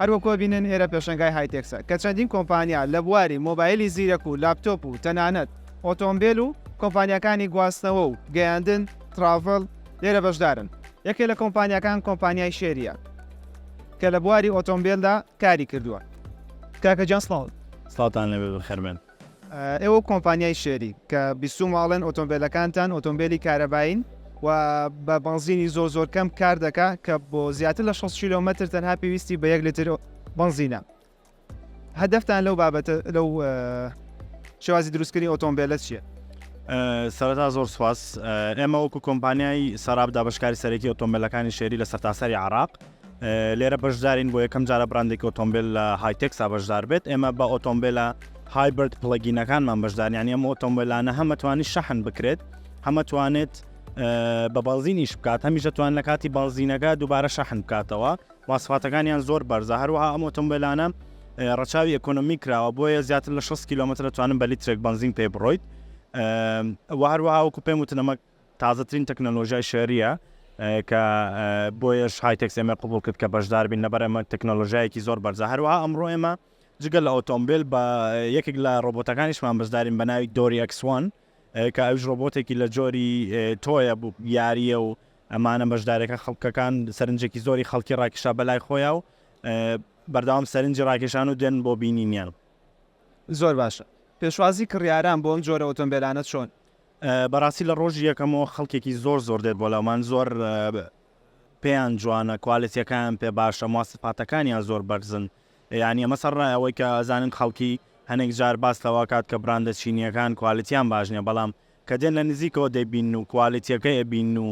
هەر وەکو ئەبینن ئێرە پێشەنگای هایتێکسە کە چەندین کۆمپانیا لە بواری مۆبایلی زیرەک و لاپتۆپ و تەنانەت ئۆتۆمبێل و کۆمپانیاکانی گواستنەوە و گەیاندن، Travel، لێرە بەشدارن. یەکێ لە کۆمپانیاکان کۆمپانیای شێرییە کە لە بواری ئۆتۆمبێلدا کاری کردووە. کاکە گیان سڵاو. سڵاوتان لێبێت بەخێربێن. ئێوە کۆمپانیای شێری کە بیستوومە ئەڵێن ئۆتۆمبێلەکانتان ئۆتۆمبێلی کارەبایین و بە بەنزینی زۆر زۆر کەم کار دەکا کە بۆ زیاتر لە شەست کیلۆمەتر تەنها پێویستی بە یەک لتر بەنزینە هەدەفتان لەو بابەتە لەو شێوازی دروستکردنی ئۆتۆمبێلە چییە؟ سەرەتا زۆر سپاس ئێمە وەکو کۆمپانیای سەراب دابشکاری سەرەکی ئۆتۆمبیلەکانی شێری لە سەرتاسەری عراق لێرە بەشدارین بۆ یەکەم جارە براندێکی ئۆتۆمبیل لە هایتەکسا بەشدار بێت ئێمە بە ئۆتۆمبیلە هایبرد پڵگینەکانمان بەشداریان ئەم ئۆتۆمبیلانە هەمەتوانی شەحن بکرێت هەمەتوانێت بە بەڵزینیش بکات هەمیشە توان لە کاتی بەڵزینەکە دووبارە شەحن بکاتەوە واسفاتەکانیان زۆر بەرزە هەروەها ئەم ئۆتۆمبیلانە ڕەچاوی ئەکۆنمی کراوە بۆیە زیاتر لە 6 کیلومتر توانم بە لیترێک بنزین پێ بڕۆیت وە هەروەها وەکو پێم وتنەمە تازەترین تەکنەلۆژیای شێرییە کە بۆیەش هایتێکس ئێمەی قبوڵ کرد کە بەشدار بین لەبەر ئەمە تەکنەلۆژیایەکی زۆر بەرزە هەروەها ئەمڕۆ ئێمە جگە لە ئۆتۆمبیل بە یەکێک لە ڕۆبۆتەکانیشمان بەشدارین بە ناوی دۆری ئەکسوان کە ئەوش ڕۆبۆتێکی لە جۆری تۆیە بوو یاریە و ئەمانە بەشدارەکە خەڵکەکان سەرنجێکی زۆری خەڵکی ڕاکیشا بەلای خۆیا و بەردەوام سەرنجی ڕاکێشان و دێن بۆ بینینیان زۆر باشە پێشوازی کڕیاران بۆ ئەم جۆرە ئۆتۆمبیلانە چۆن بەڕاستی لە ڕۆژی یەکەمەوە خەڵکێکی زۆر زۆر دێت بۆ لەومان زۆر پێیان جوانە کوالێتیەکان پێ باشە مواسفاتەکانیان زۆر بەرزن یعنی ئەمە سەر ڕای ئەوەی کە ئەزانن خەڵکی هەنێک جار باس لەوە کات کە براندە چینیەکان کوالێتیان باش نیە بەڵام کە دێن لە نزیکەوە دەبین و کوالێتیەکە ئەبین و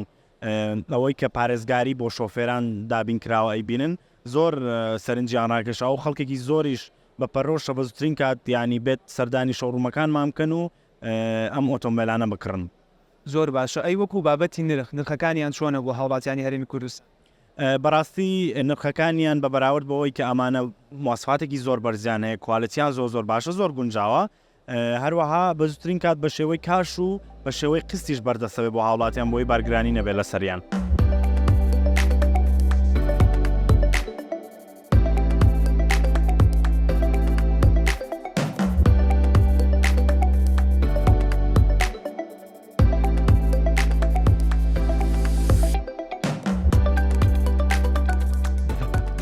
ئەوەی کە پارێزگاری بۆ شۆفێران دابین کراوە ئەیبینن زۆر سەرنجیان ڕاکێشا و خەڵکێکی زۆریش بە پەرۆشە بەزوترین کات یعنی بێت سەردانی شەڕومەکانمان بکەن و ئەم ئۆتۆمبێلانە بکڕن. زۆر باشە ئەی وەکو بابەتی نرخ نرخەکانیان چۆنە بۆ هاوڵاتیانی هەرێمی کوردستان؟ بەڕاستی نرخەکانیان بە بەراورد بەوەی کە ئەمانە مواسفاتێکی زۆر بەرزیان هەیە کوالتیان زۆر زۆر باشە زۆر گونجاوە هەروەها بەزوترین کات بە شێوەی کاش و بە شێوەی قستیش بەردەسەوێ بۆ هاوڵاتیان بۆی بارگرانی نەبێت لەسەریان.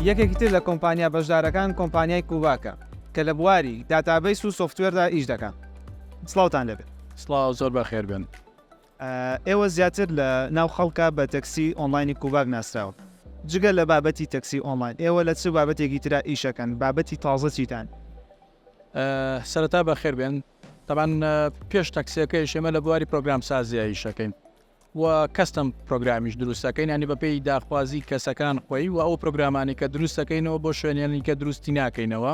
یەکێکی تر لە کۆمپانیا بەشدارەکان کۆمپانیای کوباکە کە لە بواری داتابیس و سوفتوێردا ئیش دەکەن سڵاوتان لەبێت سڵاو زۆر بەخێر بن ئێوە زیاتر لە ناو خەڵکا بە تەکسی ئۆنڵاینی کوباک ناسراون. جگە لە بابەتی تەکسی ئۆنڵاین، ئێوە لە چ بابەتێکی ترا ئیشەکەن؟ بابەتی تازە چیتان؟ سەرەتا بەخێر بێن. تەبان پێش تەکسیەکەیش ئێمە لە بواری پرۆگرام سازیە ئیشەکەین. و کەستم پرۆگرامیش دروستەکەین ینی بەپێی داخوازی کەسەکان خۆی و ئەو پرۆگرامانی کە دروستەکەینەوە بۆ شوێنێنی کە دروستی ناکەینەوە.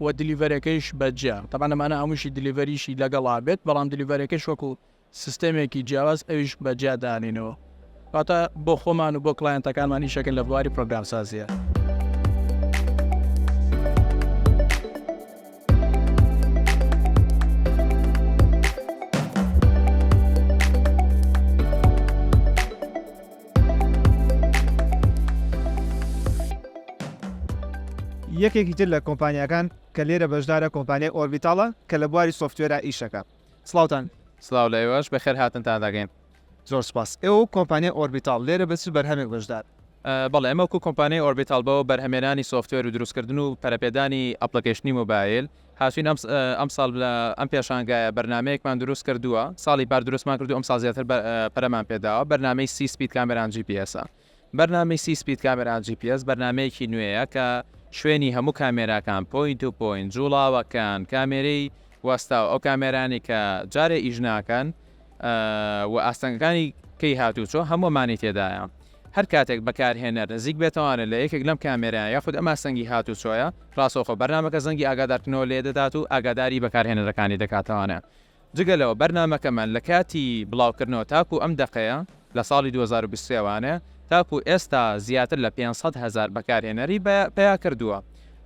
و دیلیڤەرەکەیش بە جیا تەبعەن ئەمانە هەمووشی دیلیڤەریشی لەگەڵا بێت بەڵام دیلیڤەرەکەش وەکو سیستەمێکی جیاواز ئەویش بە جیا دانینەوە واتە بۆ خۆمان و بۆ کڵایەنتەکانمان ئیشەکە لە بواری پرۆگرام سازیە. یەکێکی تر لە کۆمپانیاکان کە لێرە بەشدارە کۆمپانیای ئۆربیتاڵە کە لە بواری سۆفتوێرا ئیشەکە سڵاوتان سڵاو لە ئێوەش بەخێر هاتنتان دەگەین. زۆر سوپاس ئێوە وەک کۆمپانیای ئۆربیتاڵ لێرە بە چ بەرهەمێک بەشدار؟ بەڵێ ئێمە وەکو کۆمپانیای ئۆربیتاڵ بۆ بەرهەمێنانی سۆفتوێر و دروستکردن و پەرەپێدانی ئەپڵیکەیشنی مۆبایل هاتووین ئەم ساڵ لە ئەم پێشانگایە بەرنامەیەکمان دروست کردووە ساڵی پار دروستمان کردو ئەم ساڵ زیاتر پەرەمان پێداوە بەرنامەی سی سپید کامێران جی پی ئێسە بەرنامەی سی سپید کامێران جی پی ئێس بەرنمەیەکی نوێیە کە شوێنی هەموو کامێراکان پۆینت و پۆین جوڵاوەکان کامێرەی وەستا و ئەو کامێرانی کە جارێ ئیش ناکەن و ئاستەنگەکانی کەی هاتووچۆ هەموومانی تێدایە. هەر کاتێک بەکارهێنەر نزیک بێتەوانێت لە یەکێک لەم کامێرایە یاخود ئەم ئاستەنگی هاتووچۆیە، ڕاستەوخۆ بەرنامەکە زەنگی ئاگادارکردنەوە لێ دەدات و ئاگاداری بەکارهێنەرەکانی دەکاتەوانێ. جگە لەوە بەرنامەکەمان لە کاتی بڵاوکردنەوە تاکوو ئەم دەقەیە، لە ساڵی دوو هەزار و بیست و سێ وانێ، تاکوو ئێستا زیاتر لە پێنج سەد هەزار بەکارهێنەری پەیا کردووە.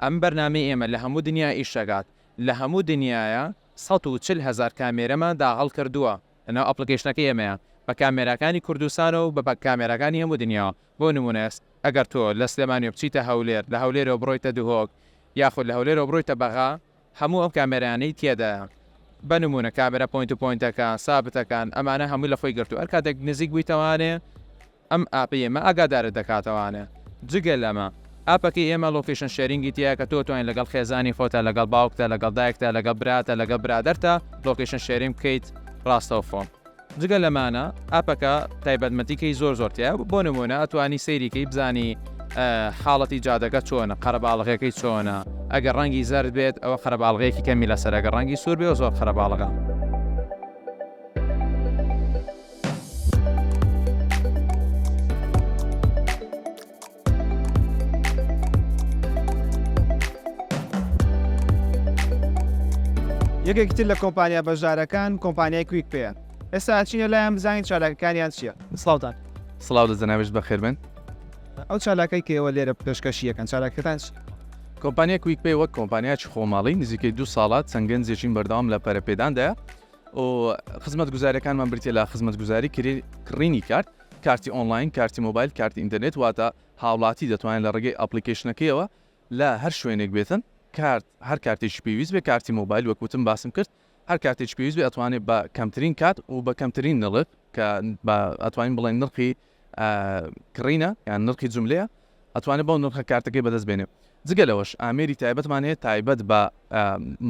ئەم بەرنامەی ئێمە لە هەموو دنیا ئیش دەکات. لە هەموو دنیایە سەد و چل هەزار کامێرەمان داهەڵکردووە لەناو ئەپڵکەیشنەکەی ئێمەیە بە کامێراکانی کوردستان و بە کامێراکانی هەموو دنیا بۆ نموونە ئەگەر تۆ لە سلێمانیەوە بچیتە هەولێر لە هەولێرەوە بڕۆیتە دهۆک یاخود لە هەولێرەوە بڕۆیتە بەغا هەموو ئەم کامێرانەی تێدایە بە نموونە کامێرا پۆینت و پۆینتەکان سابتەکان ئەمانە هەمووی لە خۆی گرتووە هەر کاتێک نزیک بوویتەوانێ ئەم ئاپەی ئێمە ئاگادارت دەکاتەوانە. جگە لەمە ئاپەکەی ئێمە لۆکەیشن شێرینگی تیایە کە تۆ بتوانیت لەگەڵ خێزانی خۆتا، لەگەڵ باوکتا، لەگەڵ دایکتا، لەگەڵ براتا، لەگەڵ برادەرتا لۆکەیشن شێرینگ بکەیت ڕاستەوخۆ. جگە لەمانە ئاپەکە تایبەتمەتیکەی زۆر زۆر تیایە بۆ نموونە ئەتوانی سەیری کەی بزانی حاڵەتی جادەکە چۆنە قەرەباڵغیەکەی چۆنە ئەگەر ڕەنگی زەرد بێت ئەوە قەرەباڵغیەکی کەمی لەسەرە گەر ڕەنگی سوور بێ زۆر قەرەباڵغە. یەکێکی تر لە کۆمپانیا بەشدارەکان کۆمپانیای کویک پێیە ئێستا ئەچینە لایان بزانین چالاکەکانیان چییە سڵاوتان سڵاو لە جەنابش بەخێر بن ئەو چالاکەی کەەوە لێرە پێشکەشی یەکەن چالاکەکان چی؟ کۆمپانیا کویک پێی وەک کۆمپانیاچ خۆماڵی نزیکەی دو ساڵات چەند گەنجێکین بەردەوام لە پەرەپێداندایە و خزمەتگوزاریەکانمان بریتیە لە خزمەتگوزاری کڕینی کارت کارتی ئۆنلاین کارتی مۆبایل کارتی ئینتەرنێت واتە هاوڵاتی دەتوانێت لە ڕێگەی ئەپلیکیشنەکەیەوە لە هەر شوێنێک بێتن کارت هەر کارتێکی پێویست بێ کارتی مۆبایل وەکوتم باسم کرد هەر کاتێک پێویست بێ ئەتوانێت بە کەمترین کات و بە کەمترین نڵک کە ئەتوانین بڵێن نرخی کڕینە یان نرخی جوملەیە ئەتوانێت بەو نرخە کارتەکەی بەدەست بێنێ جگە لەوەش ئامێری تایبەتمان هەیە تایبەت بە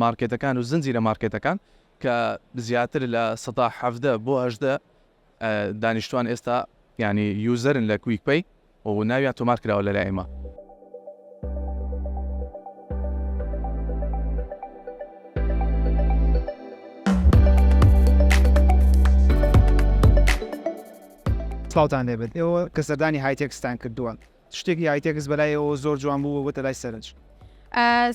مارکێتەکان و زنجیرە مارکێتەکان کە زیاتر لە سەدا حەفدە بۆ هەشدە دانیشتوان ئێستا ینی یوزەرن لە کویک پێی و ناویان تۆمار کراوە لە لایمە سڵاوتان لێ بێت ئێوە کە سەردانی هایتێکستان کردووە شتێکی هایتێکس بەلای ئێوە زۆر جوان بوو و بۆتە لای سەرنج؟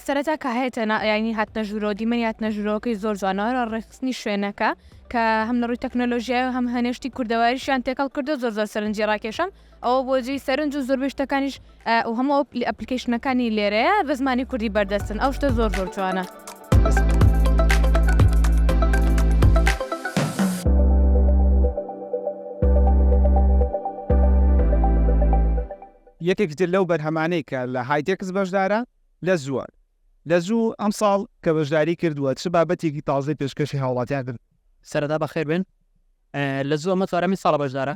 سەرەتا کە هەیەتە یانی هاتنە ژوورەوە دیمەنی هاتنە ژوورەوەکەی زۆر جوانەوە ڕێخستنی شوێنەکە کە هەم لە ڕووی تەکنەلۆژیای و هەم هەنێشتی کوردەواریشیان تێکەڵ کردو زۆر زۆر سەرنجی ڕاکێشم ئەوە بۆ جێی سەرنج و زۆربەی شتەکانیش ئەو هەموو ئەپلیکەیشنەکانی لێرەیە بە زمانی کوردی بەردەستن ئەو شتە زۆر زۆر جوانە. یەکێکتر لەو بەرهەمانەی کە لە هایتێکس بەشدارە لە زووە لە زوو ئەمساڵ کە بەشداری کردووە چ بابەتێکی تازەی پێشکەشی هاوڵاتیان کرد سەردا بەخێر بن لە زوو ئەمە چوارەمین ساڵە بەشدارە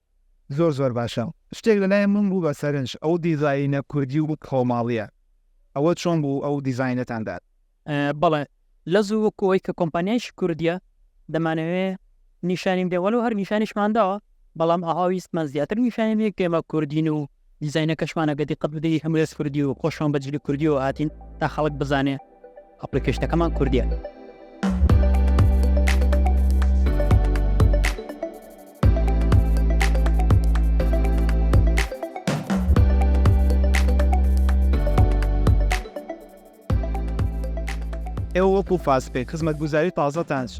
زۆر زۆر باشە شتێک لەلای من بوو بە سەرنج ئەو دیزاینە کوردی و خۆماڵیە ئەوە چۆن بوو ئەو دیزاینەتان داد؟ بەڵێ لەزوو وەکو ئەوەی کە کۆمپانیایەکی کوردیە دەمانەوێ نیشانیم دێ وەلو هەر نیشانیشمان داوە بەڵام ئەها ویستمان زیاتر نیشانیم دێ کە ئێمە کوردین و دیزاینەکەشمان ئەگەر دیقەت بدەی هەمووی ئەز کوردی و خۆشمان بە جلی کوردیەوە هاتین تا خەڵک بزانێ ئەپلیکەشنەکەمان کوردیە. ئێوە وەکو فاست پەی خزمەتگوزاری تازەتان چ؟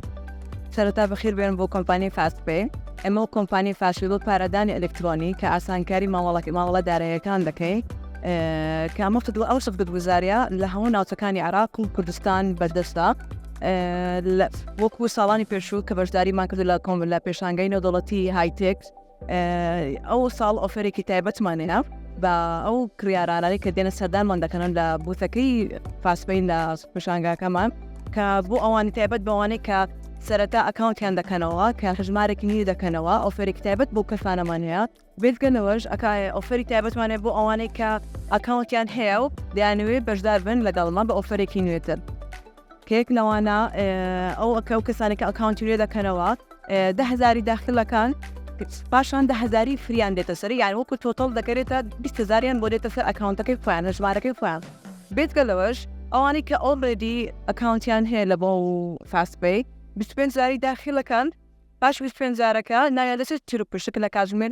سەرەتا بەخێر بێن بۆ کۆمپانیای فاست پەی، ئێمە وەک کۆمپانیای فاست پەی بۆ پارەدانی ئەلکترۆنی کە ئاسانکاری مامەڵە مامەڵە داراییەکان دەکەین کە ئەمە خدمەت ئەو خزمەتگوزاریە لە هەموو ناوچەکانی عێراق و کوردستان بەردەستە وەکو ساڵانی پێشوو کە بەشداریمان کردو لە کۆم لە پێشانگەی نێودەوڵەتی هایتێک ئەو ساڵ ئۆفرێکی تایبەتمان هێنا بە ئەو کریارانانی کە دێنە سەردانمان دەکەنن لە بوتەکەی فاسپین لە پیشانگاکەمان کە بۆ ئەوانی تایبەت بەوانەی کە سەرەتا ئەکاونتیان دەکەنەوە کە هەژمارێکی نی دەکەنەوە ئۆفرێک تایبەت بۆ کەسانەمان هەیە بێتگەنەوەش ئەکایە ئۆفری تایبەتمانێ بۆ ئەوانەی کە ئەکاونتیان هەیە و دەیانوێ بەشدار بن لەگەڵمان بە ئۆفرێکی نوێتر کێک لەوانە ئەو ئەکە و کەسانێک کە ئەکاونتی لێ دەکەنەوە دە هزاری داخلەکان پاشان دە هزاری فریان دێتە سەر یان وەکو تۆتەڵ دەکرێتە بیستهزاریان بۆ دێتە سەر ئەکاونتەکەی خۆیان لە ژمارەکەی خۆیان بێتگە لەوەش ئەوانەی کە ئۆڵێدی ئەکاونتیان هەیە لە بۆ فاستپی 25 زاری داخلەکان پاش 25 زارەکە نایە دەچێت چرپشک لە کاتژمێر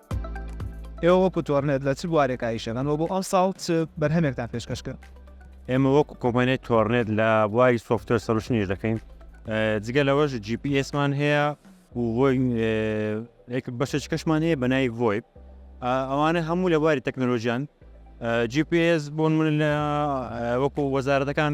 ئێوە وەکو تۆرنێت لە چ بوارێکا ئیش دەکەن و بۆ ئەمساڵ چ بەرهەمێکتان پێشکەش کرد؟ ئێمە وەکو کۆمپانیای تۆرنێت لە بواری سۆفتوێر سەلوشن ئیش دەکەین جگە لەوەش جی پی ئێسمان هەیە و بەشێک کەشمان هەیە بەنای ڤۆیب ئەوانە هەموو لە بواری تەکنەلۆژیان جی پی ئێس بۆن من لە وەکو وەزارەتەکان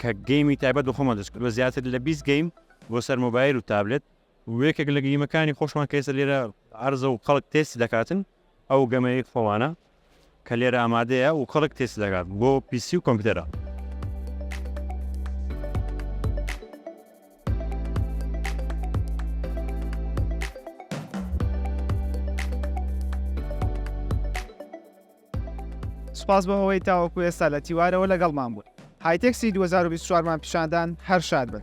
کە گەیمی تایبەت بە خۆمان دەستکرد بە زیاتر لە 20 گەیم بۆ سەر مۆبایل و تابلت وێکێک لە گەیمەکانی خۆشمان کەێسە لێرە ئارزە و خەڵک تێستی دەکاتن ئەو گەمەیە خۆمانە کە لێرە ئامادەیە و خەڵک تێستی دەکات بۆ پیسی و کۆمپیوتەرە سوپاس بۆ ئەوەی تاوەکو ئێستا لە تیوارەوە لەگەڵمان بوون هایتێکسی 2024 مان پیشاندان هەر شاد بن.